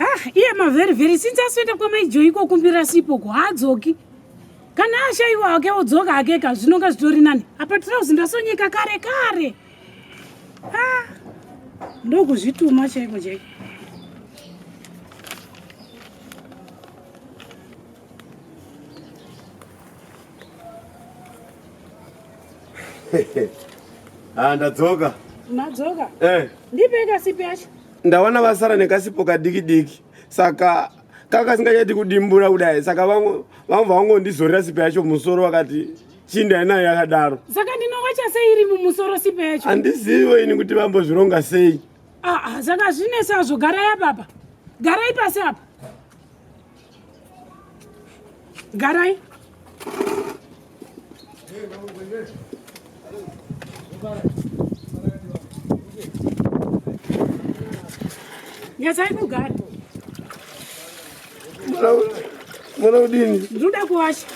Ah, iye mavheri vheri since asoenda kwamaijoyi kokumbira sipo ko haadzoki kana ashaiwa hake odzoka hake ka zvinonga zvitori nani apa trouse ndasonyeka kare kare ah, ndokuzvituma chaiko chaiko ah, ndadzoka madzoka eh. ndipeka sipi yacho ndawana vasara nekasipo kadiki diki saka kakasingachati kudimbura kudai saka vamwe vangondizorera sipo yacho musoro vakati chinda inayo yakadaro saka ndinowacha sei iri mumusoro sipo yacho handizivo ini kuti vambozvironga sei aa ah, ah, saka zvinesa zvogara yapapa garai pasi apa garai nyasai kugara mwana udini ndinoda kuwasha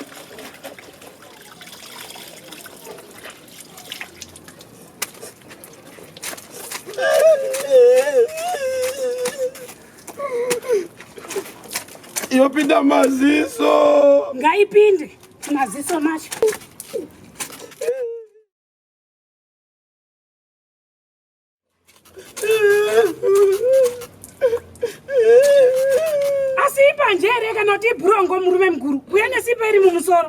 yopinda maziso ngaipinde maziso macho asi ipanjere kana kuti ibhurongo murume mukuru kuya nesipa iri mumusoro